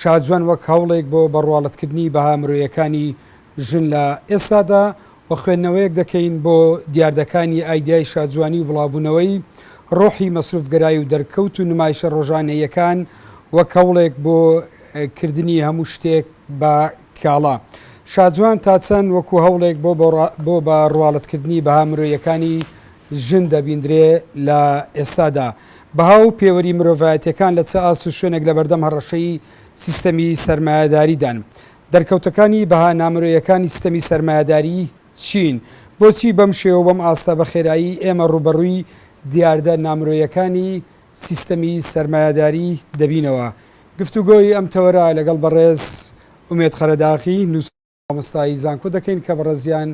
شاجوان وەک هەوڵێک بۆ بەڕواڵەتکردنی بەها مرۆیەکانی ژن لە ئێستادا و خوێندنەوەیەک دەکەین بۆ دیاردەکانی ئایدیای شاجوانی و بڵاوبوونەوەی ڕۆحی مەسروفگەرای و دەرکەوت و نمایشە ڕۆژانەییەکان وەک هەوڵێک بۆ کردنی هەموو شتێک بە کاڵا شاجوان تا چەند وەکو هەوڵێک بۆ بە ڕواڵەتکردنی بەها مرۆیەکانی ژن دەبیندرێ لە ئێستادا. بەها و پێوەری مرۆڤایەتییەکان لە چ ئاست و شوێنێک لە بەردەم هەڕەشەی سیستەمی سەرمایەداریدان؟ دەرکەوتەکانی بەها نامرۆیەکانی ستەمی سەرمایەداری چین؟ بۆچی بەم شێوە و بەم ئاستە بە خێرایی ئێمە ڕووبەڕووی دیاردە نامرۆیەکانی سیستەمی سەرمایەداری دەبینەوە؟ گفتوگۆی ئەم تەوەرە لەگەڵ بەڕێز ئومێد قەرەداغی، مامۆستای زانکۆ دەکەین کە بەڕێزیان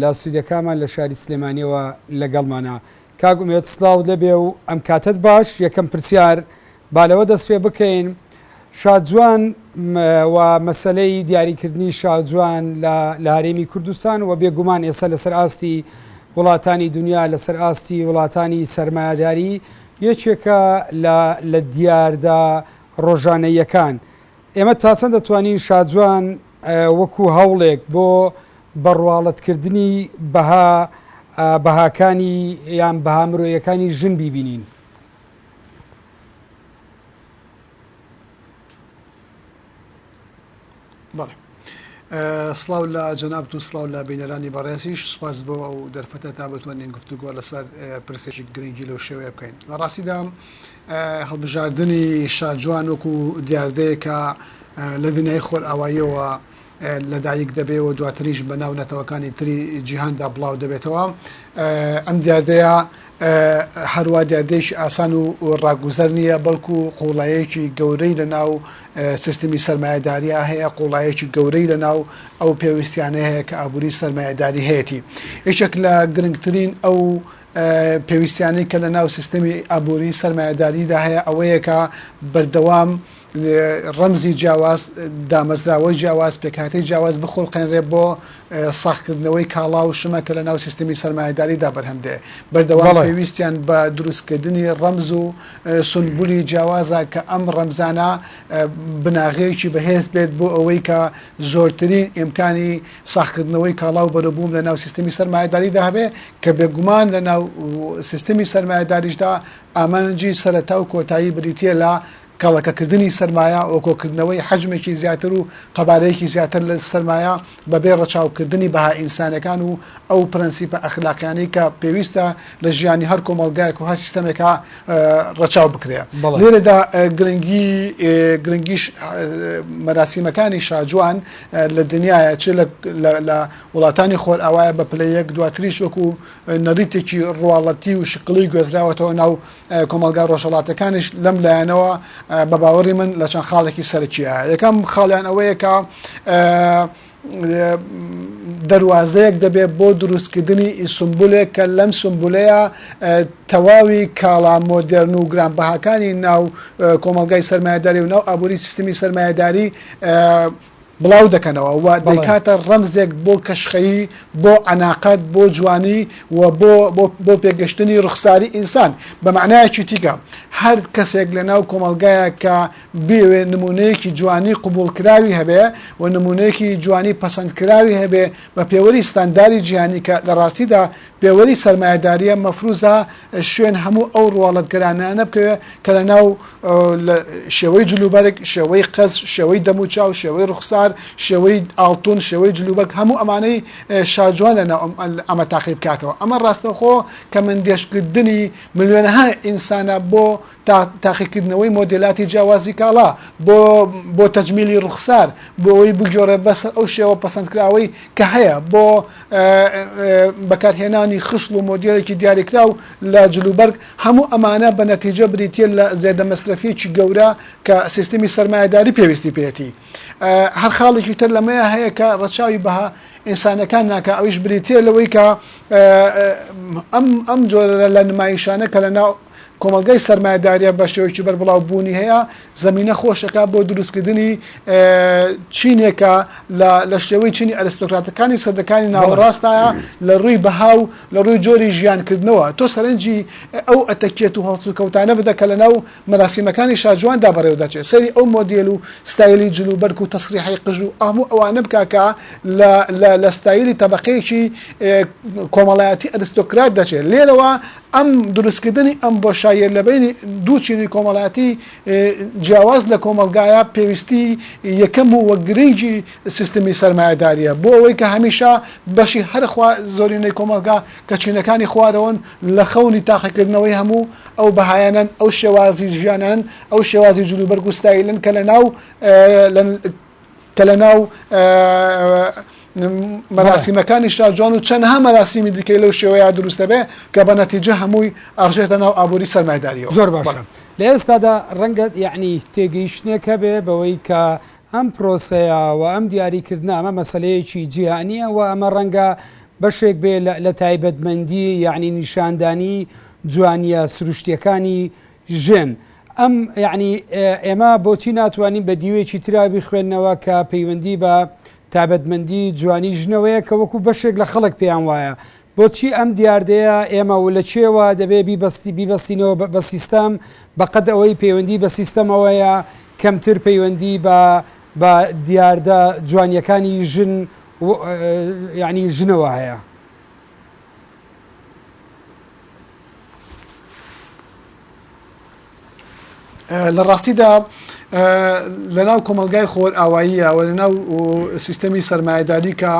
لە سودیەکانمان لە شاری سلێمانیەوە لەگەڵمانە. کاک ئومێد سلاوت لێبێ و ئەم کاتەت باش، یەکەم پرسیار با لەوە دەست پێ بکەین شاجوان و مەسەلەی دیاری کردنی شاجوان لە لە هەرێمی کوردستان و بێگومان ئێستا لەسەر ئاستی وڵاتانی دنیا لەسەر ئاستی وڵاتانی سەرمایەداری یەکێکە لە لە دیاردە ڕۆژانەیەکان ئێمە تاچەند دەتوانین شاجوان وەکو هەوڵێک بۆ بەڕواڵەتکردنی بەها بەهاکانی یان بەها مرۆیەکانی ژن بیبینین. بەڵێ سڵاو لە جەنابت و سڵاو لە بینەرانی بەڕێزیش سپاس بۆ ئەو دەرفەتە تا بتوانین گفتوگۆ لەسەر پرسێکی گرنگی لەو شێوەیە بکەین لە ڕاستیدا هەڵبژاردنی شاجوان وەکو دیاردەیەک کە لە دنیای خۆرئاواییەوە لەدایک دەبێ و دواتریش بەناو نەتەوەکانی تری جیهاندا بڵاو دەبێتەوە. ئەم دیاردەیە هەروا دیاردەیەکی ئاسان و ڕاگوزەر نییە، بەڵکو قووڵایەکی گەورەی لەناو سیستمی سەرمایەدارییە هەیە، قووڵایەکی گەورەی لەناو ئەو پێویستییانە هەیە کە ئابووری سەرمایەداری هەیەتی. یەکێک لە گرنگترین ئەو پێویستیانەی کە لە ناو سیستەمی ئابووری سەرمایەداریدا هەیە ئەوەیە کە بەردەوام ڕەمزی جیاواز دامەزراوەی جیاواز پێکهاتەی جیاواز بخولقێنرێ بۆ ساخکردنەوەی کاڵا و شمە کە لە ناو سیستەمی سەرمایەداریدا بەرهەم دێ بەردەوام پێویستیان بە دروستکردنی ڕەمز و سنبولی جیاوازە کە ئەم ڕەمزانە بناغەیەکی بەهێز بێت بۆ ئەوەی کە زۆرترین ئیمکانی ساغکردنەوەی کاڵا و بەروبووم لە ناو سیستەمی سەرمایەداریدا هەبێ کە بێگومان لە ناو سیستەمی سەرمایەداریشدا ئامانجی سەرەتا و کۆتایی بریتییە لە کەڵەکەکردنی سەرمایە و کۆکردنەوەی حەجمێکی زیاتر و قەبارەیەکی زیاتر لە سەرمایە بەبێ ڕەچاوکردنی بەها ئینسانیەکان و ئەو پرەنسیپە ئەخلاقیانەی کە پێویستە لە ژیانی هەر کۆمەڵگایەک و هەر سیستەمێکا ڕەچاو بکرێ لێرەدا گرنگی گرنگیش مەراسیمەکانی شاجوان لە دنیایە چ لە لە وڵاتانی خۆرئاوایە بە پلە یەک دواتریش وەکو نەریتێکی ڕواڵەتی و شکڵی گوێزراوەتەوە ناو کۆمەلگا ڕۆژەڵاتەکانیش لەم لایەنەوە بە باوەڕی من لە چەند خاڵێکی سەرکیە یەکەم خاڵیان ئەوەیە کە دەواازەیەک دەبێت بۆ دروستکردنی ئیسمبولێک کە لەم سمبولەیە تەواوی کاڵا مۆدررن و گرانبەهاکانی ناو کۆمەلگای سرمایهداری و ناو ئابووری سیستمی سرمایهداری بڵاو دەکەنەوە و دەیکاتە ڕەمزێک بۆ کەشخەیی، بۆ عەناقەت، بۆ جوانی و بۆ بۆ پێگەشتنی ڕوخساری ئینسان. بە مەعنایەکی تیکە هەر کەسێک لە ناو کۆمەڵگایەک کە بیەوێ نموونەیەکی جوانی قبووڵکراوی هەبێ و نموونەیەکی جوانی پەسەندکراوی هەبێ بە پێوەری ستانداری جیهانی کە لە ڕاستیدا پێوەری سەرمایەدارییە مەفرووزە شوێن هەموو ئەو ڕواڵەتگەرانانە بکەوێ کە لە ناو لە شێوەی جلوبەرگ شێوەی قەز شێوەی دەم و چاو شێوەی ڕوخسار شێوەی ئاڵتون شێوەی جلوبەرگ هەموو ئەمانەی شارجوان لە ناو ئەمە تاقی بکاتەوە ئەمە ڕاستەخۆ کە مندێشکردنی ملیۆنەها ئینسانە بۆ تا تاقیکردنەوەی مۆدێلاتی جیاوازی کاڵا، بۆ بۆ تەجمیلی ڕوخسار، بۆ ئەوەی بگۆڕێت بەسەر ئەو شێوە پەسەندکراوەی کە هەیە، بۆ بەکارهێنانی خشڵ و مۆدێلێکی دیاریکراو لە جلوبەرگ، هەموو ئەمانە بە نەتیجە بریتییە لە زێدە مەسرەفییەکی گەورە کە سیستمی سەرمایەداری پێویستی پێیەتی. هەر خاڵێکی تر لەمەیا هەیە کە ڕەچاوی بەها ئینسانەکان ناکا، ئەویش بریتییە لەوەی کە ئەم ئەم جۆرە لە نمایشانە کە لە ناو کۆمەڵگای سەرمایەداریە بەشێوەیەکی بەربڵاو بوونی هەیە زەمینە خۆشەکە بۆ دروستکردنی چینێکە لە شێوەی چینی ئەرستۆکراتەکانی سەدەکانی ناوەڕاستایە لە ڕووی بەها و لە ڕووی جۆری ژیانکردنەوە تۆ سەرنجی ئەو ئەتەکێت و هەڵسو کەوتانە بدە کە لە ناو مەراسیمەکانی شاجواندا بەڕێو دەچێت سەری ئەو مۆدیل و ستایلی جل و بەرگ و تەسریحی قژ و ئەمو ئەوانە بکاکە لە ستایلی تەبقەیەکی کۆمەڵایەتی ئەرستۆکرات دەچێت لێرەوە ئەم دروستکردنی ئەم بۆشاییە لەبەینی دوو چینی کۆمەڵایەتی جیاواز لە کۆمەڵگایە پێویستی یەکەم و وە گرنگی سیستمی سەرمایەداریە بۆ ئەوەی کە هەمیشە بەشی هەرە خوا زۆرینەی کۆمەڵگا کە چینەکانی خوارەوەن لە خەونی تاقیکردنەوەی هەموو ئەو بەهایانەن ئەو شێوازی ژیانانەن ئەو شێوازی جلوبەرگ و ستایلەن کە لە ناو کە لە ناو مەراسیمەکانی شاجوان و چەندها مەراسیمی دیکەی لەو شێوەیە دروست دەبێ کە بە نەتیجە هەمووی ئەڕژێتە ناو ئابووری سەرمایەداریەوە. زۆر باشە لە ئێستادا ڕەنگە یەعنی تێگەیشتنێک هەبێ بەوەی کە ئەم پرۆسەیە و ئەم دیاریکردنە ئەمە مەسەلەیەکی جیهانییە و ئەمە ڕەنگە بەشێک بێ لە تایبەتمەندی یەعنی نیشاندانی جوانییە سروشتییەکانی ژن، ئەم یەعنی ئێمە بۆچی ناتوانین بە دیوێکی ترا بیخوێننەوە کە پەیوەندی بە تابەتمەندی جوانی ژنەوەیە کە وەکو بەشێک لە خەڵک پێیان وایە بۆچی ئەم دیاردەیە ئێمە و لە چێوە دەبێ بیبەستی بیبەستینەوە بە بە سیستەم بە قەد ئەوەی پەیوەندی بە سیستەمەوەیە کەمتر پەیوەندی بە بە دیاردە جوانیەکانی ژن یەعنی ژنەوە هەیە. لە ڕاستیدا لەناو کۆمەلگای خۆرئاواییە و لەناو سیستەمی سەرمایهداری کە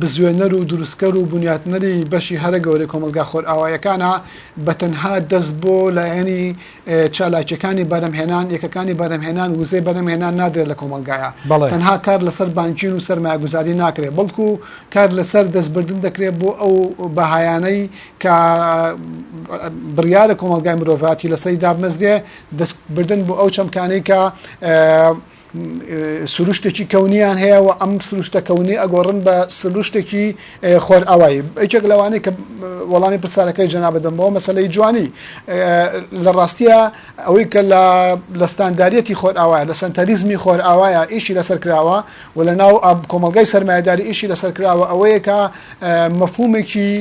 بزوێنەر و دروستکەر و بنیاتنەری بەشی هەرە گەورەی کۆمەلگا خۆرئاوایەکانە بە تەنها دەست بۆ لایەنی چالاکیەکانی بەرهەمهێنان، یەکەکانی بەرهەمهێنان وزەی بەرهەمهێنان نادرێت لە کۆمەڵگایا، تەنها کار لەسەر بانکین و سەرمایەگوزاری ناکرێت، بەڵکو کار لەسەر دەستبردن دەکرێت بۆ ئەو بەهایانەی کە بڕیارە کۆمەڵگای مرۆڤایەتی لەسەری دابمەزرێت، دەستبردن بۆ ئەو چەمکانەی کە. سروشتێکی کەونیان هەیە و ئەم سروشتە کەونی ئەگۆڕن بە سروشتێکی خۆرئاوایی ئەیچێک لەوانەیە کە وەڵامی پرسیارەکەی جەنابەت بمەوە مەسلەی جوانی لە ڕاستیە ئەوەی کە لە لەستانداریەتی خۆرئاوایە لە سنتەریزمی خۆرئاوایە ئیشی لەسەر کراوە و لە ناو کۆمەلگای سەرمایهداری ئیشی لەسەر کراوە ئەوەیە کە مەفهومێکی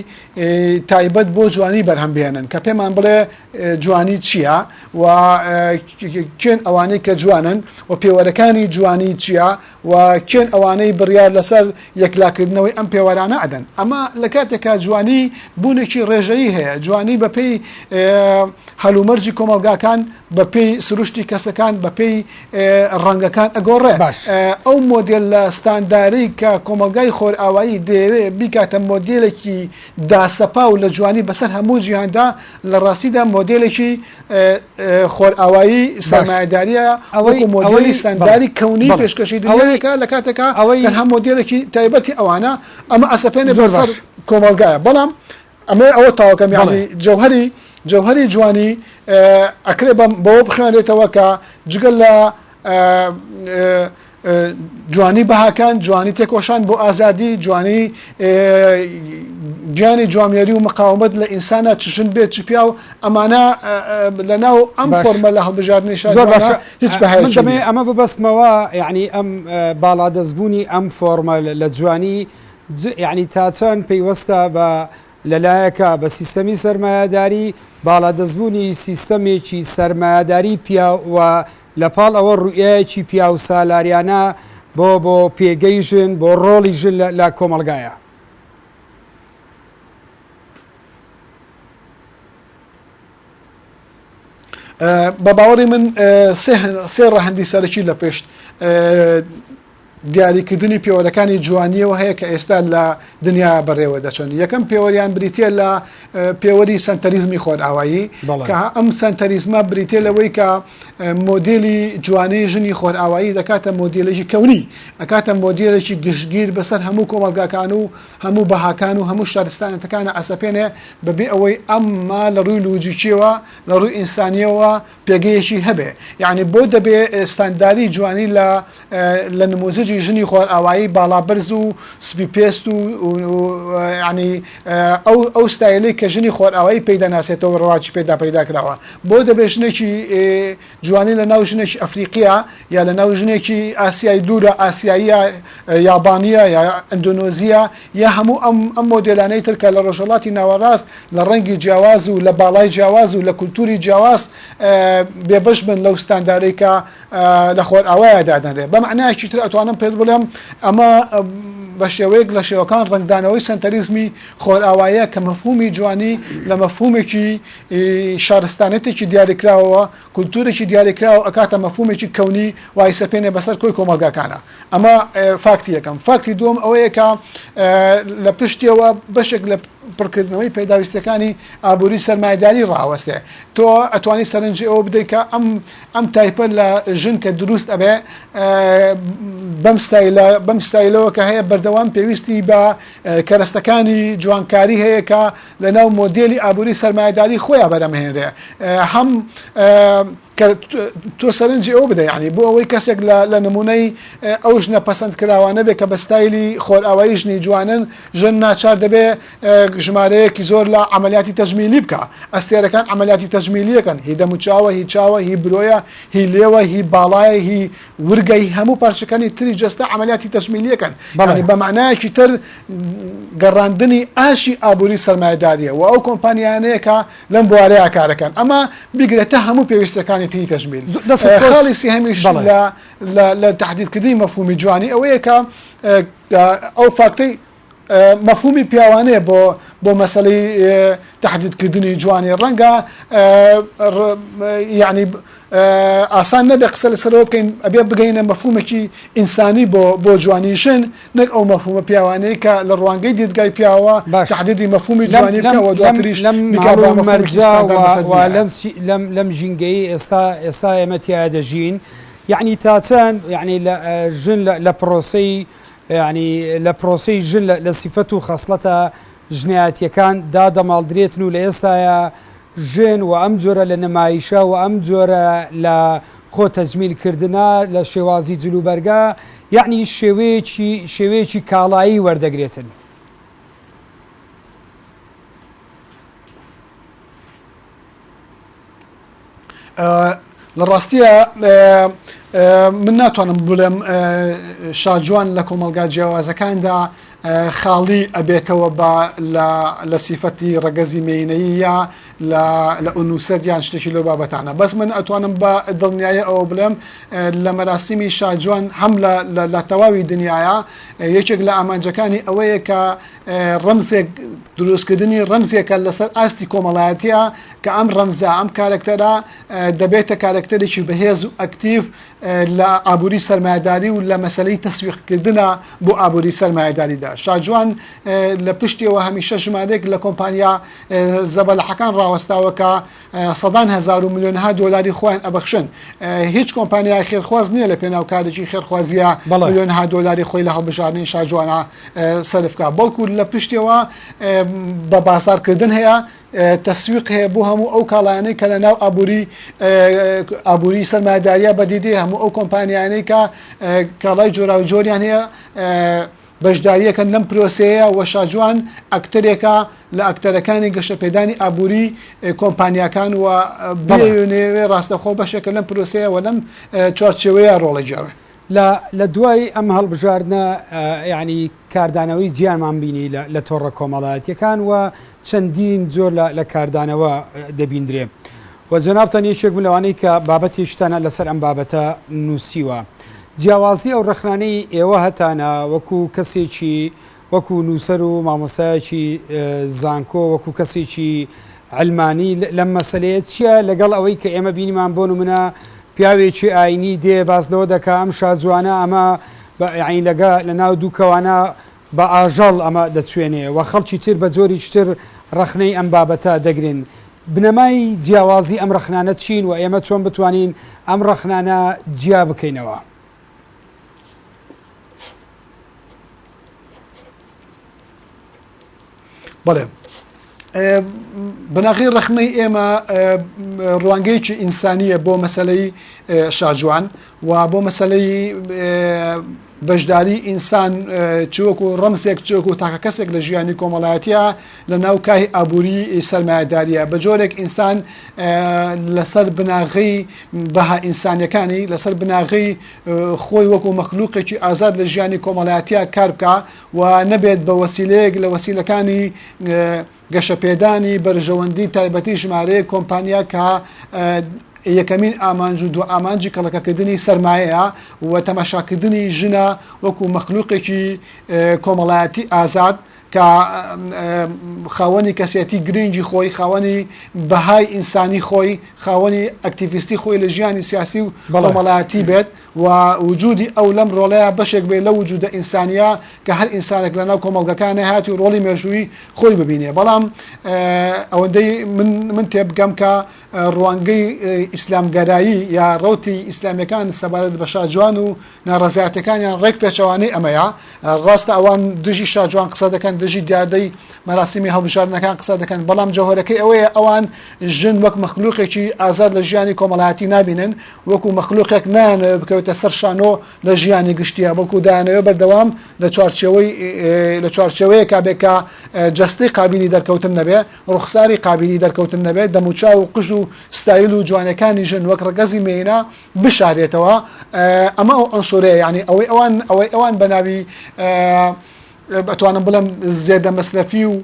تایبەت بۆ جوانی بەرهەم بێنن کە پێمان بڵێ جوانی چیە و کێن ئەوانەی کە جوانن و پێوەرەکانی جوانی چیە و کێن ئەوانەی بڕیار لەسەر یەکلاکردنەوەی ئەم پێوەرانە ئەدەن ئەمە لە کاتێکا جوانی بوونێکی ڕێژەیی هەیە جوانی بەپێی هەلومەرجی کۆمەڵگاکان بەپێی سروشتی کەسەکان بەپێی ڕەنگەکان ئەگۆڕێ باش ئەو مۆدێل لە ستانداری کە کۆمەلگای خۆرئاوایی دەیەوێ بیکاتە مۆدێلێکی داسەپاو لە جوانی بەسەر هەموو جیهاندا لە ڕاستیدا مۆدێلێکی خۆرئاوایی سەرمایەداریە ئەوەی مۆدێلی سەنداری کەونی پێشکەشی دەوەیەکە لە کاتێکا ئەوەی هەم مۆدێلێکی تایبەتی ئەوانە ئەمە ئەسەپێنێ زۆر سەر کۆمەلگایە بەڵام ئەمە ئەوە تاوەکەم یاڵی جەوهری جەوهری جوانی ئەکرێ بەم بەوە بخوێنێتەوە کە جگەل لە جوانی بەهاکان، جوانی تێکۆشان بۆ ئازادی، جوانی گیانی جوامێری و مقاومەت لە ئینسانا چ ژن بێت چ پیاو ئەمانە لەناو ئەم باش. فۆرمە لە هەڵبژاردنی زۆر شاجوانە باشە هیچ ئە، من بەهایەکی دەمەوێ نییە. ئەمە ببەستمەوە یەعنی ئەم ئە، باڵادەستبوونی ئەم فۆرمە لە لە جوانی ج، یەعنی تا چەند پەیوەستە بە لە لایەکا بە سیستەمی سەرمایەداری، باڵادەستبوونی سیستەمێکی سەرمایەداری پیاو و لە پاڵ ئەوە ڕوئیایەکی پیاوسالاریانە بۆ بۆ پێگەی ژن، بۆ ڕۆڵی ژن لە کۆمەڵگایا. بە باوەڕی من سێ ڕەهەندی سەرەکی لە پشت دیاریکردنی پێوەرەکانی جوانییەوە هەیە کە ئێستا لە دنیا بەڕێوە دەچن یەکەم پێوەریان بریتە لە پێوەری سەنتەریزمی خۆرئاوایی کە ئەم سەنتەریزمە بریتە لەوەی کە مۆدیلی جوانی ژنی خۆرئاوایی دەکاتە مۆدیلێکی کەونی ئەکاتە مۆدیلێکی گشتگیر بەسەر هەموو کۆمەلگاکان و هەموو بەهاکان و هەموو شارستانەتەکانە ئەسەپێنێ بەبێ ئەوەی ئەمما لە ڕووی لوجیکیەوە لە ڕووی ئینسانیەوە پێگەیەکی هەبێ یانی بۆ دەبێ ستانداری جوانی لە لە نموزجی ژنی خۆرئاوایی باڵا بەرز و سپی پێست و ینی ئەو ئەو ستایلی کە ژنی خۆرئاوایی پێی دەناسێتەوە ڕواجی پێدا پەیدا کراوە بۆ دەبێ ژنێکی جوانی لە ناو ژنێکی ئەفریقیە یا لەناو ژنێکی ئاسیای دوورە ئاسیاییە یابانییە یا ئەندۆنۆزییە یا هەموو ئەم ئەم مۆدێلانەی تر کە لە ڕۆژهەڵاتی ناوەڕاست لە ڕەنگی جیاواز و لە باڵای جیاواز و لە کولتووری جیاواز بێبەش بن لەو ستاندارەی کە لە خۆرئاوایە دادەنرێ بە مەعنایەکی تر ئەتوانم پێت بڵێم ئەمە بە شێوەیەک لە شێوەکان ڕەنگدانەوەی سەنتەریزمی خۆرئاواییە کە مەفهوومی جوانی لە مەفهوومێکی شارستانێتێکی دیاریکراوەوە کولتوورێکی دیاریکراو ئەکاتە مەفهوومێکی کەونی وای سەپێنێ بەسەر کۆی کۆمەڵگاکانا ئەمە فاکتی یەکەم فاکتی دووەم ئەوەیە کە لە پشتیەوە بەشێک لە پڕکردنەوەی پێداویستیەکانی ئابووری سەرمایداری ڕاوەستێ تۆ ئەتوانی سەرنجی ئەوە بدەیت کە ئەم ئەم تایپە لە ژن کە دروست ئەبێ بەم ستایلە بەم ستایلەوە کە هەیە بەردەوام پێویستی بە کەرەستەکانی جوانکاری هەیە کە لەناو مۆدێلی ئابووری سەرمایەداری خۆیا بەرەمهێنرێ هەم کە تۆ سەرنجی ئەو بدە یعنی بۆ ئەوەی کەسێک لە نمونەی ئەو ژنە پەسەند کراوانە بێ کە بە ستایلی خۆرئاوایی ژنی جوانن ژن ناچار دەبێ ژمارەیەکی زۆر لە عملیاتی تەجمیلی بکە ئەستێرەکان عملیاتی تەجمیلیەکەن هی دەموچاوە هی چاوە هی برۆیە هی لێوە هی باڵایە هی ورگەی هەموو پارچەکانی تری جەستە عەمەلیاتی تەجمیلییەکەن، یانی بە مەعنایەکی تر گەڕاندنی ئاشی ئابووری سەرمایەدارییە و ئەو کۆمپانیایانەیە کە لەم بوارەیا کارەکەن، ئەمە بیگرە تا هەموو پێویستییەکانی تری تەجمیل. خاڵی سێهەمیش لە تەحدیدکردنی مەفهوومی جوانی ئەوەیە کە ئەو فاکتەی. مەفهومی پیاوانەیە بۆ بۆ مەسەلەی تەحدید کردنی جوانی ڕەنگە یعنی ئاسان نەبێ قسە لەسەرەوە بکەین ئەبێ بگەینە مەفهومێکی ئینسانی بۆ بۆ جوانی ژن نەک ئەو مەفهومە پیاوانەیە کە لە ڕوانگەی دیدگای پیاوە باش. تەحدیدی مەفهومی جوانی بکەوە دواتریش لەم بیکا بە مەفهومێکی مەرجە ستاندارد و بەسەر و بیایە. لەم سی- لەم لەم ژینگەی ئێستا ئێستا ئێمە تیا دەژین یعنی تا چەند یعنی لە ژن لە لە پرۆسەی یانی لە پرۆسەی ژن لە لە سیفەت و خەسڵەتە ژنایەتیەکان دا دەماڵدرێتن و لە ئێستایا ژن وە ئەم جۆرە لە نمایشە وە ئەم جۆرە لە خۆ تەجمیل کردنە لە شێوازی جل و بەرگە یانی شێوەیەکی شێوەیەکی کاڵایی وەردەگرێتن. لە ڕاستییا من ناتوانم بڵێم شاجوان لە کۆمەلگا جیاوازەکاندا خاڵی ئەبێتەوە بە لە سیفەتی ڕەگەزی مینەیی یا لە ئونوسەت یان شتێکی لەو بابەتانە بەس من ئەتوانم بە دڵنیایە ئەوە بڵێم لە مەراسیمی شاجوان هەم لە تەواوی دنیاە یەکێک لە ئامانجەکانی ئەوەیە کە ڕەمزێک دروستکردنی ڕەمزێکە لەسەر ئاستی کۆمەڵایەتیە کە ئەم ڕەمزە ئەم کارەکتەرە دەبێتە کارەکتەرێکی بەهێز و ئەکتیڤ لە ئابووری سەرمایداری و لە مەسلەی تەسویقکردە بۆ ئابووری سەرمایداریدا شاجوان لە پشتیەوە هەمیشە ژمارێک لە کۆمپانیا زەبەلاحەکان ڕاوەستاوەکە سەدان هەزار و ملیۆنەها دۆلاری خۆیان ئەبەخشن هیچ کۆمپانیای خێرخواز نییە لە پێناو کارێکی خێرخوازیە ملیۆنەها دۆلاری خۆی لە هەڵبژاردنی شاجوانە سەرفکە بەڵکو لە پشتەوە بە بازاڕکردن هەیە تەسویق هەیە بۆ هەموو ئەو کاڵایانەی کە لە ناو ئابووری ئابووری سەرمایداریە بەدیدی هەموو ئەو کۆمپانیانەی کە کاڵای جۆراو جۆریان هەیە بەشدارییەکەن لەم پرۆسەیە و شاجوان ئەکتەرێکە لە ئەکتەرەکانی گەشەپێدانی ئابووری کۆمپانیاکان و بێوێنێ ڕاستەخۆ بەشێکە لەم پرۆسەیە و لەم چوارچێوەیە ڕۆڵی گێڕا. لە لە دوای ئەم هەڵبژاردنە یانی کاردانەوەی جیانمان بینی لە تۆڕە کۆمەڵایەتییەکان و چەندین جۆر لە کاردانەوە دەبیندرێ. وە جەنابتان یەکێک بوون لەوانەی کە بابەتی شتانە لەسەر ئەم بابەتە نووسیوە. جیاوازی ئەو ڕەخنانەی ئێوە هەتانە وەکو کەسێکی وەکو نووسەر و مامۆستایەکی زانکۆ وەکو کەسێکی علمانی لەم مەسلەیە چییە لەگەڵ ئەوەی کە ئێمە بینیمان بۆ نمونە پیاوێکی ئاینی دێ باس لەوە دەکا ئەم شاجوانە ئەمە بە عینەگە لە ناو دوو کەوانە بە ئاژەڵ ئەمە دەچوێنێ و خەڵکی تر بە جۆریکی تر ڕەخنەی ئەم بابەتە دەگرن. بنەمای جیاوازی ئەم ڕەخنانە چین و ئێمە چۆن بتوانین ئەم ڕەخنانە جیا بکەینەوە؟ بەڵێ بناغی ڕخنەی ئێمە ڕوانگەیەکی ئینسانیە بۆ مەسلەی شاجوان و بۆ مەسلەی بەشداری ئینسان چوەکو ڕەمسێک چۆک و تاکە کەسێک لە ژیانی کۆمەڵایەتە لە ناو کای ئابووری سەرمایهداریە بە جۆرێک ئینسان لەسەر بناغی بەها ئینسانەکانی لەسەر بناغی خۆی وەکو مەخلووقێکی ئازاد لە ژیانی کۆمەڵایەتە کار بکە و نەبێت بە وەسیلەیەک لە وەسیلەکانی گەشەپێدانی بەرژەوەندی تایبەتی ژمارەیەک کۆمپانیا کە یەکەمین ئامانج و دووئامانجی کەڵەکەکردنی سەرمایەیە و تەماشاکردنی ژنە وەکو مەخلوقێکی کۆمەڵایەتی ئازاد کە خاوەنی کەسێتی گرنگی خۆی خاوەنی بەهای ئینسانی خۆی خاوەنی ئەکتیڤیستی خۆی لە ژیانی سیاسی و کۆمەڵایەتی بێت. و وجودی ئەو لەم ڕۆڵەیا بەشێک بێ لەو وجودە ئینسانیە کە هەر ئینسانێک لەناو کۆمەڵگەکە نەهات و ڕۆڵی مێژووی خۆی ببینێ بەڵام ئەوەندەی من من تێبگەم کە ڕوانگەی ئیسلامگەرایی یا ڕەوتی ئیسلامیەکان سەبارەت بە شاجوان و ناڕزایەتەکانیان ڕێک پێچەوانەی ئەمەیە ڕاستە ئەوان دژی شاجوان قسە دەکەن دژی دیاردەی مەراسیمی هەڵبژاردنەکان قسە دەکەن بەڵام جەوهرەکەی ئەوەیە ئەوان ژن وەک مەخلوقێکی ئازاد لە ژیانی کۆمەڵایەتی نابینن وەکو مەخلوقێک نایانەوێت بکەوێتە سەر شانۆ لە ژیانی گشتیە بەڵکو دایانەوێت بەردەوام لە چوارچێوەی لە چوارچێوەیەکا بێ کە جەستەی قابلی دەرکەوتن نەبێ ڕوخساری قابلی دەرکەوتن نەبێت دەموچاو و قژ و ستایل و جوانەکانی ژن وەک ڕگەزی مێینە بشارێتەوە ئەمە ئەو ئەنسورەیە یعنی ئەوەی ئەوان ئەوەی ئەوان بەناوی ئەتوانم بڵێم زێدە مەسرەفی و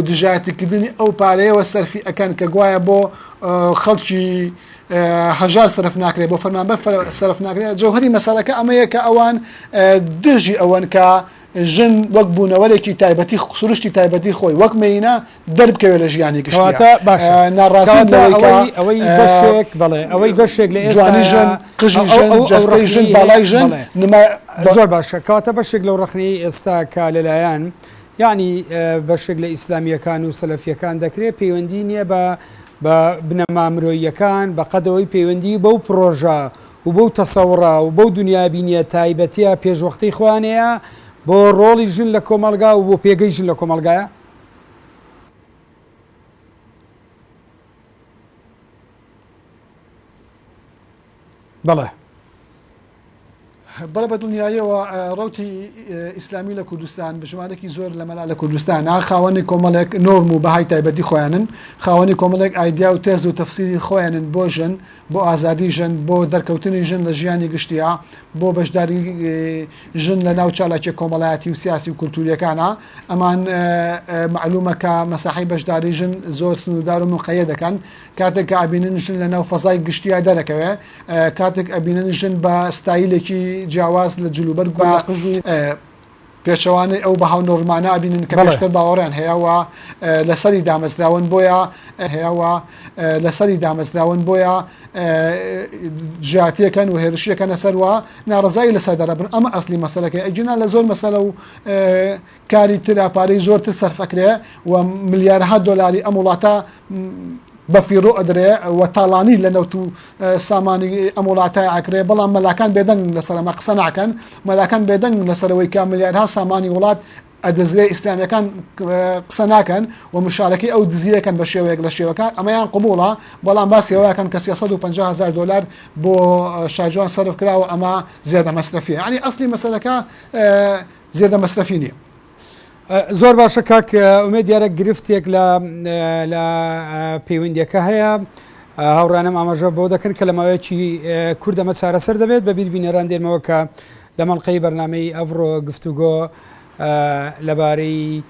دژایەتیکردنی ئەو پارەیەوە سەرفی ئەکەن کە گوایە بۆ خەڵکی هەژار سەرف ناکرێت بۆ فەرمانبەر سەرف ناکرێت جەوهری مەسەلەکە ئەمەیە کە ئەوان دژی ئەوەن کە ژن وەک بوونەوەرێکی تایبەتی سروشتی تایبەتی خۆی وەک مینە دەربکەوێت لە ژیانی گشتیا کەواتە باشە آه، ناڕازیم کەواتە لەوەی کە ئەوەی ئەوەی آه، بەشێک بەڵێ ئەوەی بەشێک لە ئێستا جوانی ژن قژی ژن جەستەی ژن باڵای ژن بەڵێ نما ب- زۆر باشە کەواتە بەشێک لەو ڕەخنەی ئێستا کە لەلایەن یعنی اه، بەشێک لە ئیسلامییەکان و سەلەفیەکان دەکرێت پەیوەندی نییە بە بە بنەما مرۆییەکان بە قەدەوەی پەیوەندی بەو پڕۆژە و بەو تەسەوڕە و بەو دنیا بینیە تایبەتە پێشوەختەی خۆیانەیە بۆ ڕۆڵی ژن لە کۆمەلگا و بۆ پێگەی ژن لە کۆمەلگایە بەڵێ بەڵێ بە دڵنیاییەوە ڕوتی ئیسلامی لە کوردستان بژمارێکی زۆر لە مەلا لە کوردستان خاوەنی کۆمەڵێک نۆرم و بەهای تایبەتی خۆیانن خاوەنی کۆمەڵێک ئایدیا و تێز و تەفسیری خۆیانن بۆ ژن بۆ ئازادی ژن بۆ دەرکەوتنی ژن لە ژیانی گشتیا بۆ بەشداری ژن لە ناو چالاکی کۆمەڵایەتی و سیاسی و کولتوریەکانە ئەمان مەعلومە کە مەساحەی بەشداری ژن زۆر سنوردار و مقەیەدەکەن کاتێک کە ئەبینن ژن لە ناو فەزای گشتیا دەرەکەوێ کاتێک ئەبینن ژن بە ستایلێکی جیاواز لە جلوبەر گوڵ قژی پێچەوانەی ئەو بەهاو نۆرمانە ئەبینن کە پێشتر باوەڕیان هەیەوە لەسەری دامەزراون بۆیە هەیەوە لەسەری دامەزراون بۆیە ژاتیەکەن و هێرشیەکەنە سەروە ناڕزایی لەسەر دەرەبن ئەمە ئەسلی مەسلەکەی ئەگینا لە زۆر مەسەلە و کاری ترە پارەی زۆر تر سەرف ئەکرێ و ملیارها دۆلاری ئەم وڵاتە بەفیڕۆ ئەدرێ و تاڵانی لە نەوت و سامانی ئەم وڵاتای ئاکرێ بەڵام مەلاکان بێدەنگ لەسەر ئەمە قسە ناکەن مەلاکان بێدەنگ لەسەرەوەی کە ملیارها سامانی وڵات ئەدەزرێ ئیسلامیەکان قسە ناکەن و مشارەکەی ئەو دزیەکەن بە شێوەیەک لە شێوەکان ئەمەیان قوبوڵە بەڵام باسیەوەکەن کە 350 هزار دلار بۆ شاجوان سەرف کراوە ئەمە زیادە مەسرفیە ینی ئەسلی مەسلەکە زێدە مەسرەفی نییە. زۆر باشە کاک ئومێ دیارە گرفتێک لە لە پەیوەندیەکە هەیە هاوڕانم ئاماژە بۆ دەکەن کە لە ماوەیەکی کوردەمە چارەسەر دەبێت بە بیر بینەران دێنمەوە کە لە مەڵلقەی بەرنمەی ئەڤڕۆ گفتوگۆ لەبارەی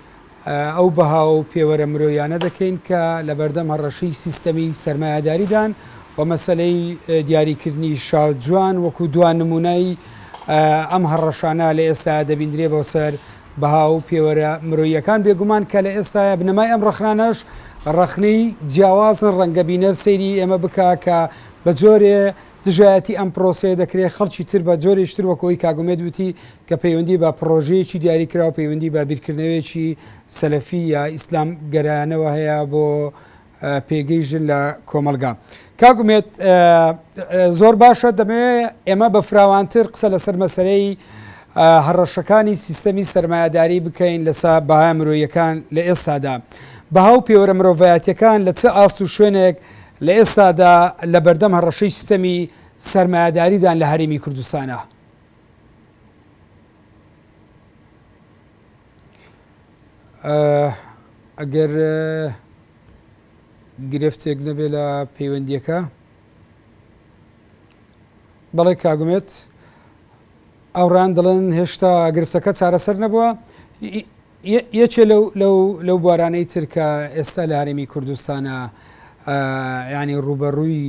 ئەو بەها و پێوەرە مرۆییانە دەکەین کە لەبەردەم هەڕەشەی سیستەمی سەرمایەداریدان و مەسەلەی دیاریکردنی شاجوان وەکو دوا نمونای ئەم هەڕەشانە لە ئێستا دەبیندرێ بۆ سەر بەها و پێوەرە مرۆییەکان بێگومان کە لە ئێستاە بنەمای ئەم ڕخنانەش ڕخنەی جیاوازن ڕەنگە بینەر سەیری ئێمە بکا کە بە جۆرێ دژایەتی ئەم پرۆسەیە دەکرێت خەڵکی تر بە جۆرێکی تر وەک ئەوەی کاک ئومێد وتی کە پەیوەندی بە پڕۆژەیەکی دیاریکراو پەیوەندی بە بیرکردنەوەیەکی سەلەفی یا ئیسلام گەرایانەوە هەیە بۆ پێگەی ژن لە کۆمەلگا کاک ئومێد زۆر باشە دەمەوێت ئێمە بە فراوانتر قسە لەسەر مەسەرەی هەڕەشەکانی سیستەمی سرمایهداری بکەین لەسا بەهای مرۆیەکان لە ئێستادا بەها و پێوەرە مرۆڤایەتەکان لە چه ئاست و شوێنێک لە ئێستادا لە بەردەم هەڕەشەی سیستەمی سەرمایەداریدان لە هەرێمی کوردستانە. ئەگەر گرفتێک نەبێ لە پەیوەندیەکە بەڵێ کاگومێت ئەوڕان دەڵێن هێشتا گرفتەکە چارەسەر نەبووە یەکێ لەو لەو لەو بوارانەی تر کە ئێستا لە هەرێمی کوردستانە ینی ڕوبەڕووی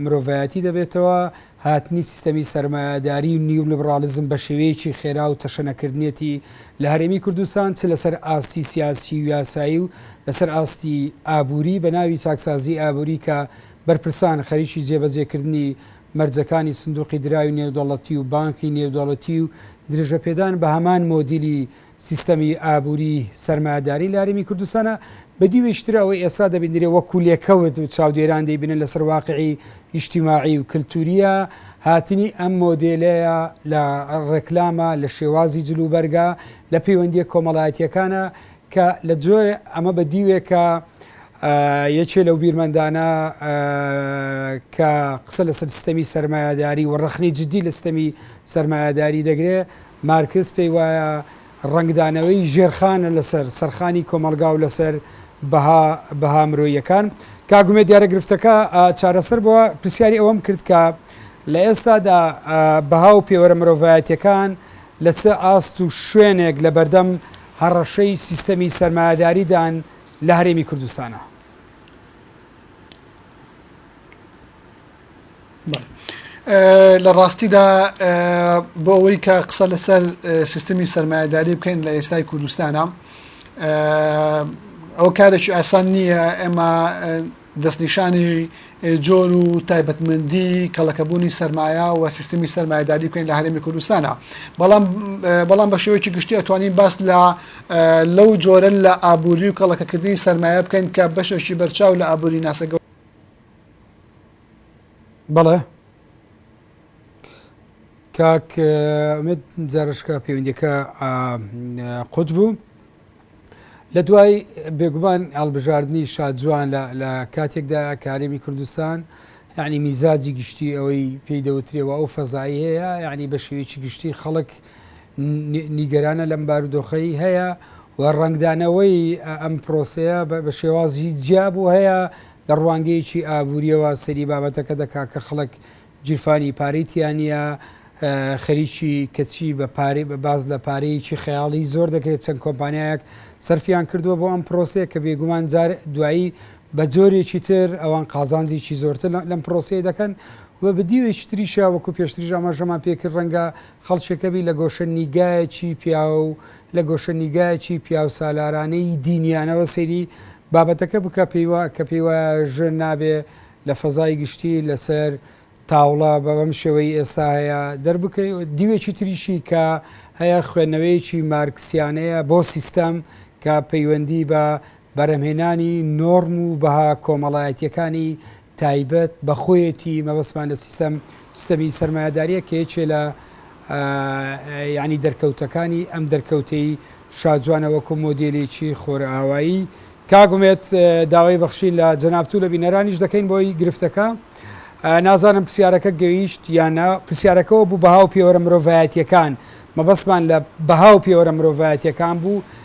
مرۆڤایەتی دەبێتەوە هاتنی سیستەمی سرمایهداری و نیو لبراڵزم بە شێوەیەکی خێرا و تەشەنەکردنیەتی لە هەرێمی کوردستان چ لەسەر ئاستی سیاسی و یاسایی و لەسەر ئاستی ئابووری بە ناوی چاکسازی ئابووری کە بەرپرسان خەریکی جێبەجێکردنی مەرجەکانی سندوقی دراوی نێودەڵەتی و بانکی نێودەڵەتی و درێژەپێدان بە هەمان مۆدیلی سیستەمی ئابووری سەرمایەداری لە هەرێمی کوردستانە، بەدیوێکی تر ئەوەی ئێستا دەبینرێ وەکوو لێکەوت و چاودێران دەیبینن لەسەر واقعی ئیجتیماعی و کلتوورییە، هاتنی ئەم مۆدێلەیە لە ڕێکلامە، لە شێوازی جلوبەرگە، لە پەیوەندییە کۆمەڵایەتییەکانە کە لە جۆرێ ئەمە بە دیوێکە یەکێ لەو بیرمەندانە کە قسە لەسەر سیستەمی سەرمایەداری و ڕەخنەی جددی لە سیستەمی سەرمایەداری دەگرێ، مارکس پێی وایە ڕەنگدانەوەی ژێرخانە لەسەر سەرخانی کۆمەڵگا و لەسەر بەها بەها مرۆییەکان. کاک ئومێد دیارە گرفتەکە چارەسەر بووە، پرسیاری ئەوەم کرد کە لە ئێستادا بەها و پێوەرە مرۆڤایەتیەکان لە چ ئاست و شوێنێک لە بەردەم هەڕەشەی سیستەمی سەرمایەداریدان لە هەرێمی کوردستانا؟ لە ڕاستیدا بۆ ئەوەی کە قسە لەسەر سیستمی سرمایهداری بکەین لە ئێستای کوردستانە ئەو کارێکی ئاسان نییە ئێمە دەستنیشانی جۆر و تایبەتمەندی کەڵەکەبوونی سرمایە و سیستمی سرمایهداری بکەین لە هەرێمی کوردستانە بەڵام بەڵام بە شێوەیەکی گشتی ئەتوانین باس لە لەو جۆرە لە ئابووری و کەڵەکەکردنی سرمایە بکەین کە بەشێکی بەرچاو لە ئابووری ناسەگە بەڵێ کاک ئومێد جارشکە پەیوەندیەکە قوت بوو لە دوای بێگومان هەڵبژاردننی شادجووان لە کاتێکدا کارێمی کوردستان یعنی میزاجی گشتی ئەوەی پێی دەوترێەوە ئەو فەزایی هەیە یعنی بە شێوەیەکی گشتی خەڵک نیگەرانە لەم بارودۆخەی هەیە و ڕنگدانەوەی ئەم پرۆسەیە بە شێوازی جیابوو هەیە لە ڕوانگەیەکی ئابوورییەوە سەیری بابەتەکە دەکات کە خەڵک گیرفانی پارەی تیا نییە، خەریکی کەچی بە پارەی بە باس لە پارەیەکی خەیاڵی زۆر دەکرێت، چەند کۆمپانیایەک سەرفیان کردووە بۆ ئەم پرۆسەیە کە بێگومان جار دوایی بە جۆرێکی تر ئەوان قازانجێکی زۆرتر لەم پرۆسەیە دەکەن و بە دیوێکی تریشە وەکو پێشتریش ئاماژەمان پێکرد ڕەنگە خەڵکێکەبی لە گۆشە نیگایەکی پیاو و لە گۆشە نیگایەکی پیاوسالارانەی دینیانەوە سەیری بابەتەکە بکە پێی وا کە پێی وایە ژن نابێ لە فەزای گشتی لە سەر تاوڵە بە بەم شێوەی ئێستا هەیە دەربکەی دیوێکی تریشی کە هەیە خوێندنەوەیەکی مارکسیانەیە بۆ سیستەم کە پەیوەندی بە بەرهەمهێنانی نۆرم و بەها کۆمەڵایەتییەکانی تایبەت بە خۆیەتی، مەبەستمان لە سیستەم، سیستەمی سەرمایەدارییە کە یەکێ لە یانی دەرکەوتەکانی ئەم دەرکەوتەی شاجوانە وەکو مۆدێلێکی خۆرئاوایی. کاک ئومێد داوای بەخشین لە جەنابت و لە بینەرانیش دەکەین بۆی گرفتەکە. نازانم پرسیارەکە گەیشت یان نا، پرسیارەکەەوە بوو بەها و پێوەرە مرۆڤایەتییەکان، مەبەستمان لە بەها و پێوەرە مرۆڤایەتییەکان بوو،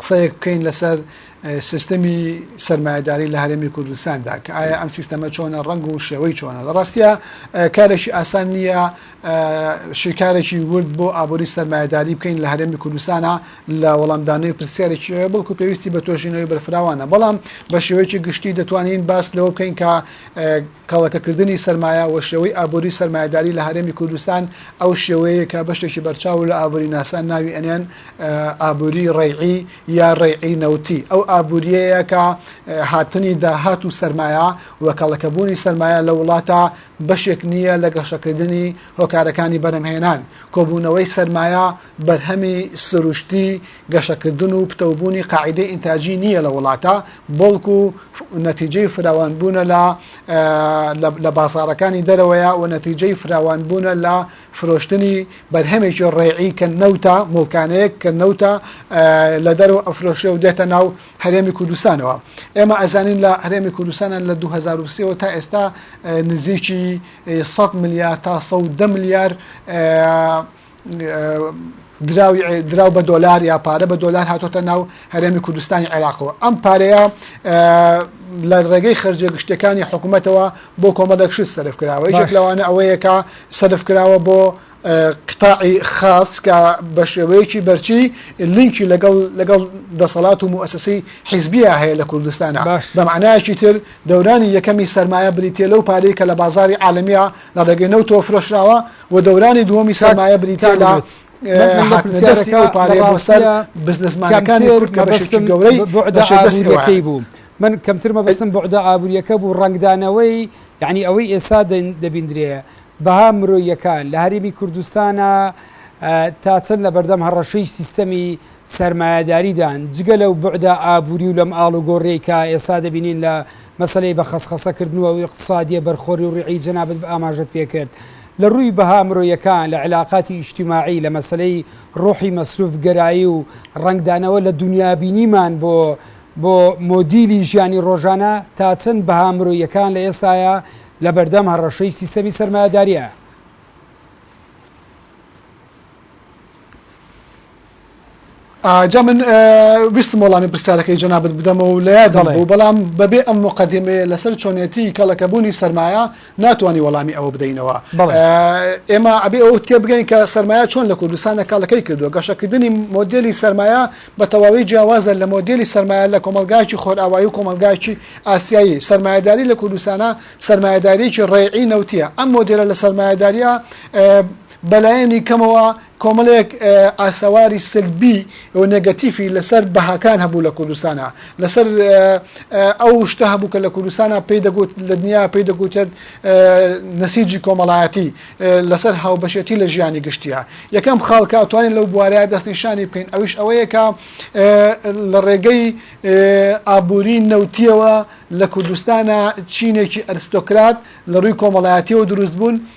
قسەیەک بکەین لەسەر سیستمی سەرمایەداری لە هەرێمی کوردستاندا کە ئایا ئەم سیستەمە چۆنە ڕنگ و شێوەی چۆنە لە ڕاستە کارێکی ئاسان نییە شیکارێکی ورد بۆ ئابووری سەرمایەداری بکەین لە هەرێمی کوردستانە لە وەڵامدانەوەی پرسیارێکی بڵکو پێویستی بە تۆژینەوەی بەرفراوانە بەڵام بە شێوەیەکی گشتی دەتوانین باس لەوە بکەین کە کەڵەکەکردنی سرمایە و شێوەی ئابووری سەرمایەداری لە هەرێمی کوردستان ئەو شێوەیە کە بەشتێکی بەرچاو لە ئابووری ناسان ناوی ئەنێن ئابووریی ڕەیعی یا ڕەیعی نەوتی ئەو ئابوورییەیە کە هاتنی داهات و سەرمایە و کەڵەکەبوونی سەرمایە لە وڵاتە بەشێک نییە لە گەشەکردنی هۆکارەکانی بەرهەمهێنان، کۆبوونەوەی سەرمایە بەرهەمی سروشتی گەشەکردن و پتەوبوونی قاعیدەی ئینتاجی نییە لە وڵاتە، بەڵکو نەتیجەی فراوانبوونە لە بازاڕەکانی دەرەوەیە و نەتیجەی فراوانبوونە لە فرۆشتنی بەرهەمێکی ڕێعی کە نەوتە، موڵکانەیەک کە نەوتە لە دەرەوە ئەفرۆشرێ و دێتە ناو هەرێمی کوردستانەوە. ئێمە ئەزانین لە هەرێمی کوردستانە لە دوو هەزار و سێ وە تا ئێستا نزیکی سەد ملیار تا سەد و دە ملیار دراوی دراو بە دۆلار یا پارە بە دۆلار هاتۆتە ناو هەرێمی کوردستانی عێراقەوە ئەم پارەیە لە ڕێگەی خەرجە گشتەکانی حکوومەتەوە بۆ کۆمەڵێک شت سەرف کراوە یەک لەوانە ئەوەیەکە سەرف کراوە بۆ قتاعی خاص کە بە شێوەیەکی بەرچی لینکی لەگەڵ لەگەڵ دەسەڵات و موسسی حیزبیە هەیە لە کوردستانە بەمانایکی تر دەورانی یەکەمی سرمایە بریتە لەو پارەی کە لە بازاری عاالمیە لە ڕێگەی نەوتۆ فرۆشراوە و دەورانی دووەمی سەرمایە بریتیە لە هاتنە دەستی ئەو پارەیە بۆ سەر بزنسمانەکانی کورد کە بەشێکی گەورەی بۆ شەدەستی بوو. من کەمتر مەبستم بۆعدا ئابوووریەکە بوو ڕنگدانەوەی یعنی ئەوەی ئێستا دەبیندرێ بەها مرۆیەکان لە هەرێمی کوردستانە تا چەند لە بەردەم هەڕەشەی سیستەمی سەرمایەداریدان، جگە لەو بوعدە ئابووری و لەم ئاڵوگۆڕیەی کە ئێستا دەبینین لە مەسەلەی بە خەسخەسە کردن و ئیقتسادیە بەرخۆری و ڕیعی جەنابت بە ئاماژەت پێ کرد لە ڕووی بەها مرۆیەکان لە علاقاتی ئیجتماعی لە مەسەلەی ڕۆحی مەسروف گەرایی و ڕەنگدانەوە لە دونیابینیمان بۆ بۆ مۆدیلی ژیانی ڕۆژانە تا چەند بەها مرۆیەکان لە ئێستایا لە بەردەم هەڕەشەی سیستەمی سەرمایەداریە؟ جا من ویستم وەڵامی پرسیارەکەی جەنابت بدەمەوە و لە یادم بوو بەڵام بەبێ ئەم مقدمەیە لەسەر چۆنێتی کەڵەکەبوونی سەرمایە ناتوانانی وەڵامی ئەوە بدەینەوە ئێمە ئەبێ ئەو تێبگەین کە سەرمایە چۆن لە کوردستانە کاڵەکەی کردووە گەشەکردنی مۆدلی سەرمایە بە تەواوی جیاوازە لە مۆدلی سەرمایە لە کۆمەلگایکی خۆرئاوایی و کۆمەلگایکی ئاسیایی سەرمایهداری لە کوردستانە سەرمایهداریکی ڕێعی نەوتە ئەم مۆدلە لە سەرمایهداریە بەلایەنی کەمەوە کۆمەڵێک ئاسەواری سلبی و نێگەتیفی لەسەر بەهاکان هەبوو لە کوردستانا لەسەر ئەو شتە هەبوو کە لە کوردستانا پێی دەگوت لە دنیا پێی دەگوتێت نسیجی کۆمەڵایەتی لەسەر هاوبەشێتی لە ژیانی گشتیا یەکەم خاڵ کە ئەتوانین لەو بوارەیە دەستنیشانی بکەین ئەویش ئەوەیە کە لە ڕێگەی ئابووری نەوتیەوە لە کوردستانا چینێکی ئەرستۆکرات لە ڕووی کۆمەڵایەتیەوە دروست بوون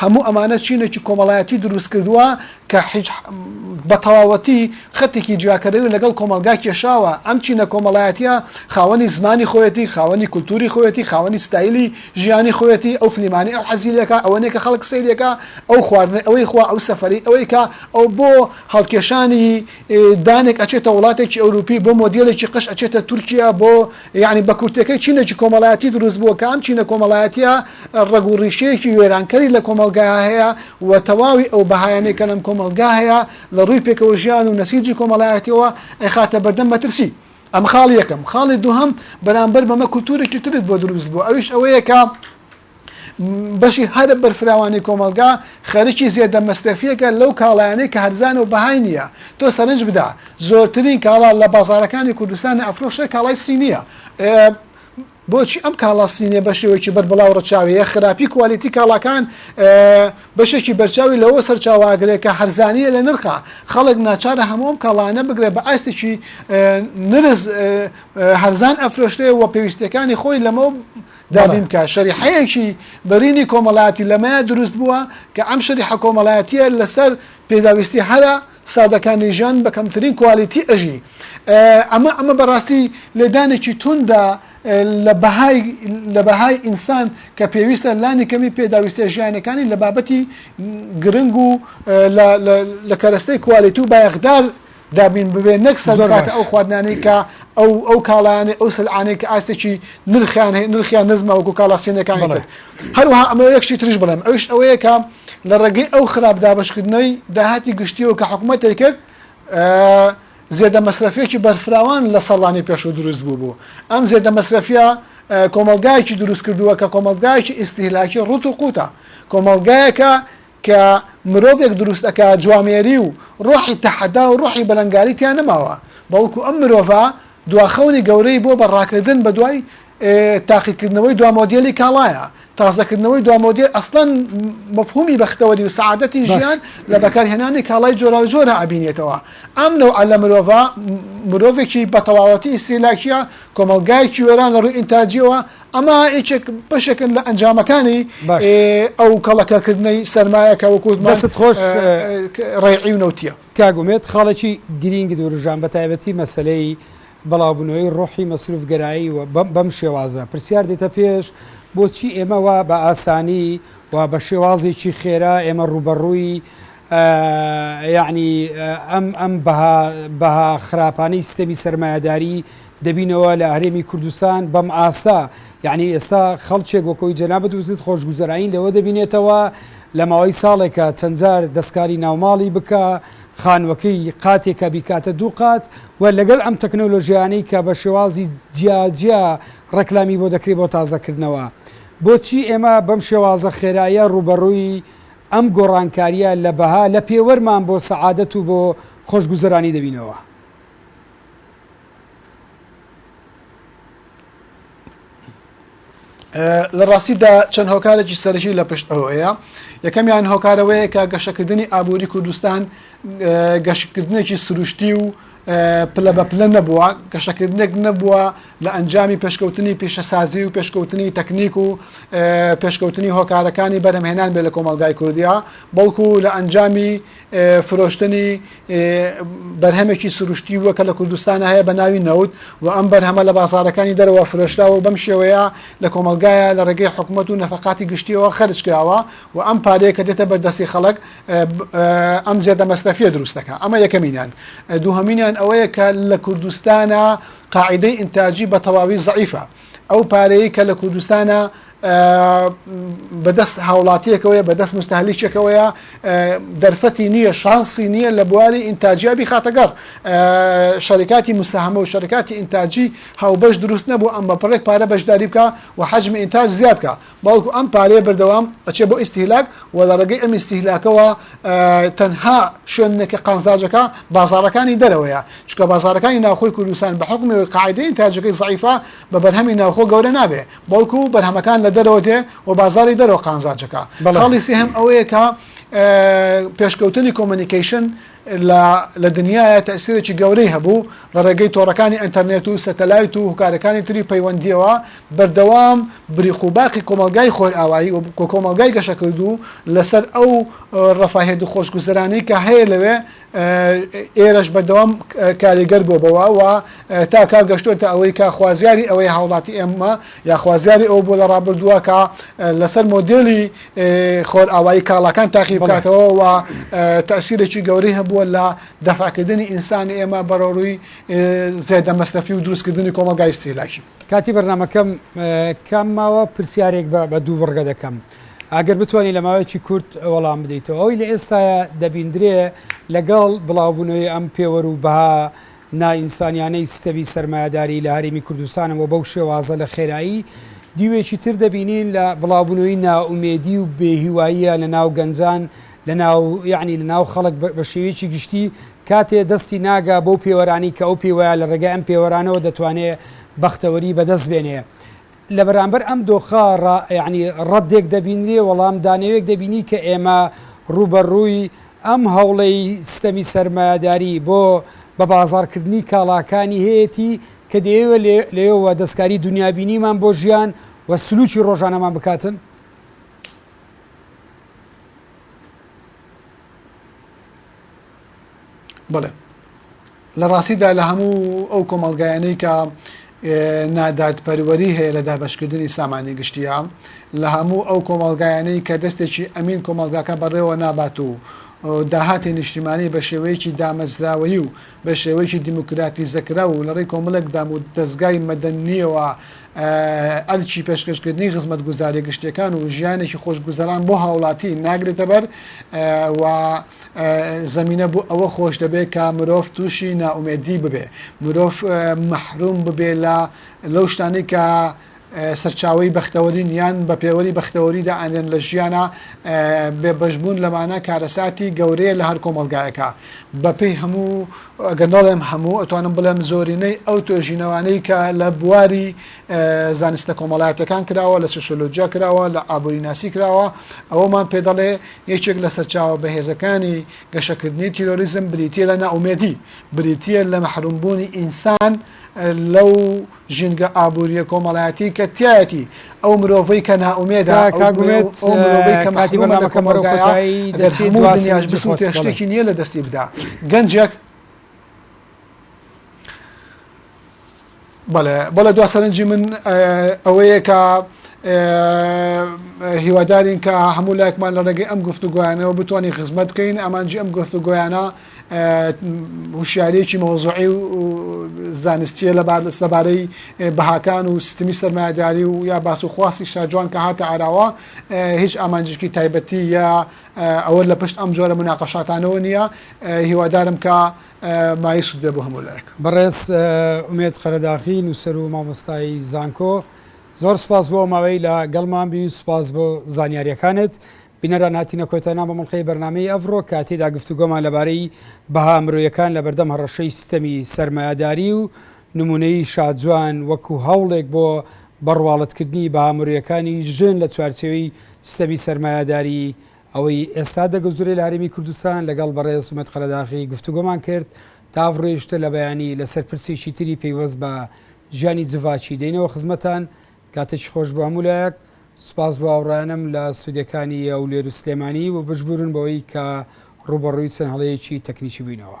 هەموو ئەمانە چینێکی کۆمەڵایەتی دروست کردووە کە حیج بە تەواوەتی خەتێکی جیاکەرەوەی لەگەڵ کۆمەڵگا کێشاوە، ئەم چینە کۆمەڵایەتییە خاوەنی زمانی خۆیەتی، خاوەنی کولتووری خۆیەتی، خاوەنی ستایلی ژیانی خۆیەتی، ئەو فلیمانەی ئەو حەزی لێ کا، ئەوە نییە کە خەڵک سەیری ئەکا، ئەو خواردنەی ئەوەی خوا، ئەو سەفەرەی ئەوەی کا، ئەو بۆ هەڵکێشانی دانێک ئەچێتە وڵاتێکی ئەوروپی، بۆ مۆدێلێکی قژ ئەچێتە تورکیا، بۆ یەعنی بە کورتەکەی چینێکی کۆمەڵایەتی دروست بووە کە ئەم چینە کۆمەڵایەتییە ڕەگ و ڕیشەیەکی وێرانکەری لە کۆمەڵگایا هەیە و تەواوی ئەو بەهایانەی کە لەم کۆمەڵگا هەیە لە ڕووی پێکەوە ژیان و نەسیجی کۆمەڵایەتییەوە ئەیخاتە بەردەم مەترسی. ئەمە خاڵی یەکەم. خاڵی دووهەم، بەرامبەر بەمە کولتوورێکی ترت بۆ دروست بووە ئەویش ئەوەیە کە، بەشی هەرە بەرفراوانی کۆمەڵگا خەرکی زێدە مەسرەفیەکە لەو کاڵایانەی کە هەرزانە و بەهای نیە، تۆ سەرنج بدە زۆرترین کاڵا لە بازاڕەکانی کوردستان ئەفرۆشرێ کاڵای سینیە ئێ بۆچی ئەم کاڵا سینیە بە شێوەیەکی بەربڵاو ڕەچاوەیە خراپی کوالیتی کاڵاکان بەشێکی بەرچاوی لەوە سەرچاوە ئەگرێ کە هەرزانیە لە نرخا خەڵک ناچارە هەموو ئەم کاڵایانە بگرێ بە ئاستێکی نرخ هەرزان ئەفرۆشرێ و پێویستیەکانی خۆی لەمەو دابین بکات، شەریحەیەکی بەرینی کۆمەڵایەتی لەمەیە دروست بووە کە ئەم شەریحە کۆمەڵایەتییە لەسەر پێداویستی هەرە سادەکانی ژیان بە کەمترین کوالیتی ئەژی. ئەمە ئەمە بەڕاستی لێدانێکی توندە لە بەهای لە بەهای ئینسان کە پێویستە لانیکەمی پێداویستییە ژیانییەکانی لە بابەتی گرنگ و لە لە کەرەستەی کوالیتی و بایەخدار دابین ببێت نەک سەر بکاتە ئەو خواردنانەی کە ئەو ئەو کاڵایانەی ئەو سلعانەی کە ئاستێکی نرخیان هەیە نرخیان نزمە وەکو کاڵا سینەکانی تر هەروەها ئەمە یەک شتی تریش بڵێم ئەویش ئەوەیە کە لە ڕێگەی ئەو خراپ دابەشکردنەوەی داهاتی گشتیەوە کە حکوومەتی کرد زێدە مەسرەفیەکی بەرفراوان لە ساڵانی پێشوو دروست بوو بوو ئەم زێدە مەسرەفیە کۆمەلگایکی دروست کردووە کە کۆمەلگایکی ئیسیلاکی ڕوت و قوتە کۆمەلگایەکە کە مرۆڤێک دروست ئەکات جوامێری و ڕۆحی تەحەدا و ڕۆحی بەلەنگاری تیا نەماوە بەڵکو ئەم مرۆڤە دوا خەونی گەورەی بۆ بە ڕاکردن بە دوای تاقی کردنەوەی دوا مۆدێلی کاڵایە تازە کردنەوەی دوا مۆدێل ئەسڵەن مەفهومی بەختەوەری و سەعادەتی بەس ژیان لە بەکار هێنانی کاڵای جۆراوجۆرا ئەبینێتەوە ئەم نەوعە لە مرۆڤە مرۆڤێکی بە تەواوەتی ئیستهلاکیە کۆمەڵگایەکی وێران لە ڕووی ئینتاجیەوە ئەمە یەکێک بەشێکن لە ئەنجامەکانی ئەو کەڵەکەکردنەی سەرمایە کە وەکوت باست خۆش ڕێعی و نەوتە کاگومێت خاڵێکی گرینگ دوورژان بە تایبەتی مەسلەی بەڵاوبنەوەی ڕۆحی مەسروفگەرایی و بەم شێوازە پرسیار دێتە پێش بۆچی ئێمە وا بە ئاسانی و بە شێوازێکی خێرا ئێمە ڕوبەڕووی یعنی ئەم ئەم بەها خراپانەی سیستەمی سرمایهداری دەبینەوە لە هەرێمی کوردستان بەم ئاستە یعنی ئێستا خەڵکێک وەکەوەی جەنابت وتت خۆشگوزەرانی لەوە دەبینێتەوە لە ماوەی ساڵێکە چەندجار دەستکاری ناوماڵی بکە خانوەکەی قاتێکە بیکاتە دوو قات و لەگەل ئەم تەکنەلۆژیانەی کە بە شێوازی جیاجیا ڕێکلامی بۆ دەکرێت بۆ تازەکردنەوە بۆچی ئێمە بەم شێوازە خێرایە ڕوبەڕووی ئەم گۆڕانکاریە لە بەها لە پێوەرمان بۆ سەعادەت و بۆ خۆشگوزەرانی دەبینەوە؟ لە ڕاستیدا چەند هۆکارێکی سەرشی لە پشت ئەوەیە یەکەمیان هۆکارەوەیە کە گەشەکردنی ئابووری کوردستان گەشتکردنێکی سروشتی و پلە بە پلە نەبووە گەشەکردنێک نەبووە لە ئەنجامی پێشکەوتنی پیشەسازی و پێشکەوتنی تەکنیک و پێشکەوتنی هۆکارەکانی بەرهمهێنان بێ لە کۆمەلگای کوردیا بەڵکو لە ئەنجامی فرۆشتنی بەرهەمێکی سروشتی بووە کە لە کوردستان هەیە بە ناوی نەوت و ئەم بەرهەمە لە بازارەکانی دەرەوە فرۆشراوە و بەم شێوەیە لە کۆمەڵگایە لە ڕێگەی حکوومەت و نەفقاتی گشتیەوە خەرج کراوە و ئەم پارەیە کە دێتە بەردەستی خەڵک ئەم زێدە مەسرەفیە دروستەکە ئەمە یەکەمینان دووهمینیان ئەوەیە کە لە کوردستانە قاعدەی ئینتاجی بە تەواوی زعیفە ئەو پارەیە کە لە کوردستانە بەدەست هاوڵاتیەکەوەیە بەدەست مستهلیکێکەوەیە دەرفەتی نییە شانسی نییە لە بواری ئینتاجیابی خاتەگەڕ شەریکاتی مساهمە و شەرکاتی ئینتاجی هاوبەش دروست نەبوو ئەم بە پڕێک پارە بەشداری بکە و حەجمی ئینتاج زیاد بکە بەڵکو ئەم پارەیە بەردەوام ئەچێت بۆ ئیستهلاک و لە ڕێگەی ئەم ئیستهلاکەوە تەنها شوێنێک کە قازانجەکە بازاڕەکانی دەرەوەیە، چونکە بازاڕەکانی ناوخۆی کوردستان بە حوکمی ئەوەی قاعیدەی ئینتاجەکەی زەعیفە بە بەرهەمی ناوخۆ گەورە نابێت، بەڵکو بەرهەمەکان لە دەرەوە دێ و بازاڕی دەرەوە قانزانجەکە. خاڵی سێهەم ئەوەیە کە پێشکەوتنی کۆمۆنیکەیشن لە لە دنیایە تەئسیرێکی گەورەی هەبوو، لە ڕێگەی تۆڕەکانی ئەنتەرنێت و سەتەلایت و هوکارەکانی تری پەیوەندییەوە بەردەوام بریق و باقی کۆمەڵگای خۆرئاوایی و کۆمەڵگای گەشەکردوو لەسەر ئەو ڕەفاهیەت و خۆشگوزەرانیی کە هەیە لەوێ ئێرەش بەردەوام کاریگەر بووە بەوە و تا کە گەشتۆتە ئەوەی کە خوازیاری ئەوەیە هاوڵاتی ئێمە یا خوازیاری ئەوە بووە لە ڕابردووە کە لەسەر مۆدێلی خۆرئاوایی کاڵاکان تاقی بکاتەوە و تەئسیرێکی گەورەی هەبووە لە دەفعکردنی ئینسانی ئێمە بەرەوڕووی زێدە مەسرەفی و دروستکردنی کۆمەڵگای ئیستیهلاکی. کاتی بەرنامەکەم کەم ماوە، پرسیارێک بە دوو بڕگە دەکەم ئەگەر بتوانی لە ماوەیەکی کورت وەڵام بدەیتەوە، ئەوەی لە ئێستایە دەبیندرێ لەگەڵ بڵاوبوونەوەی ئەم پێوەر و بەها، نائینسانیانەی ستەمی سەرمایەداری لە هەرێمی کوردستانە و بەو شێوازە لە خێرایی دیوێکی تر دەبینین لە بڵاوبونەوەی نائومێدی و بێ هیواییە لە ناو گەنجان لە ناو یعنی لە ناو خەڵک بە شێویکی گشتی کاتێ دەستی ناگا بەو پێوەرانی کە ئەو پێوەیە لە ڕێگای ئەم پێوەرانەوە دەتوانێ بەختەوەری بەدەست بێنێ لە بەرامبەر ئەم دۆخە ڕا یانی ڕەدێک دەبینرێ، وەڵام دانەوێک دەبینی کە ئێمە ڕووبەڕووی ئەم هەوڵەی سیستەمی سەرمایەداری بۆ بە بازاڕ کردنی کاڵاکانی هەیەتی کە دەیەوێ لێ لێیەوە دەستکاری دونیابینیمان بۆ ژیان و سلووکی ڕۆژانەمان بکاتن. بەڵێ لە ڕاستیدا لە هەموو ئەو کۆمەڵگایانەی کە نادادپەروەری هەیە لە دابشکردنی سامانی گشتیە لە هەموو ئەو کۆمەڵگایانەی کە دەستێکی ئەمین کۆمەڵگاکە بەڕێوە نابات و داهاتی نیشتیمانی بە شێوەیەکی دامەزراوەیی و بە شێوەیەکی دیموکراتی زەکرا و لەڕێی کۆمەڵێک دام و دەستگای مەدەنیەوە ئەرچی پێشکەشکردنی خزمەت گوزاری گشتەکان و ژیانێکی خۆشگوزەران بۆ هاوڵاتی ناگرێتە بەر و زەمینە بۆ ئەوە خۆش دەبێت کە مرۆڤ تووشی نائومێدی ببێ، مرۆڤ مەحروم ببێ لە لەو شتانەی کە سەرچاوەی بەختەوەرین یان بە پێوەری بەختەوەری دائەنرێن لە ژیانا، بێبەشبوون لەمانە کارەساتی گەورەیە لە هەر کۆمەڵگایەکا. بەپێی هەموو، گەر نەڵێم هەموو، ئەتوانم بڵێم زۆرینەی ئەو تۆژینەوانەی کە لە بواری زانستە کۆمەڵایەتییەکان کراوە، لە سۆسیۆلۆجیا کراوە، لە ئابووریناسی کراوە، ئەوەمان پێ دەڵێ، یەکێک لە سەرچاوە بەهێزەکانی گەشەکردنی تیرۆریزم بریتییە لە نائومێدی، بریتییە لە مەحرومبوونی ئینسان لەو ژینگە ئابوورییە کۆمەڵایەتیی کە تیایەتی، ئەو مرۆڤەی کە نائومێدە، ئەو مرۆڤەی کە مەحرومە لە کۆمەڵگایە، گەر هەموو دنیاش بسووتێ شتێکی نییە لە دەستی بدا. گەنجێک. بەڵێ بەڵێ دوا سەرنجی من ئەوەیە کە هیوادارین کە هەموو لایکمان لە ڕێگەی ئەم گفتوگویانەوە بتوانین خزمەت بکەین ئامانجی ئەم گفتوگویانە هوشیارێکی مەوزوعی و زانستیە لە لەبارەی بەهاکان و سیستمی سەرمایهداری و یا باس و خواستی شاجوان کە هاتە عراوە هیچ ئامانجێکی تایبەتی یا ئەوە لە پشت ئەم جۆرە مناقەشاتانەوە نییە هیوادارم کە مایست بێ بۆ هەموو لایەک. بەڕێز ئومێد قەرەداخی نووسەر و مامۆستای زانکۆ زۆر سوپاس بۆ ئەو ماوەی لە گەڵمان بوی و سوپاس بۆ زانیاریەکانت. بینەران هاتینە کۆتای نامە مڵقەی بەرنمەی ئەڤڕۆ کە تێدا گفتوگۆمان لەبارەی بەها مرۆیەکان لە بەردەم هەڕەشەی ستەمی سەرمایەداری و نمونەی شاجوان وەکو هەوڵێک بۆ بەڕواڵەتکردنی بەها مرۆیەکانی ژن لە چوارچێوەی ستەمی سەرمایەداری ئەوەی ئێستا دەگوزرێ لە هەرێمی کوردستان لەگەڵ بەڕێز عومەد قەرەداغی گفتوگۆمان کرد تا ئەڤڕۆیشتە لە بەیانی لەسەر پرسێکی تری پەیوەست بە ژیانی جڤاکی دەینەوە خزمەتان کاتێکی خۆش بۆ هەموو لایەک سوپاس بۆ هاوڕێیانم لە ستۆدیەکانی هەولێر و سلێمانی و بژبورن بەوەی کە ڕووبەڕووی چەند هەڵەیەکی تەکنیکی بووینەوە.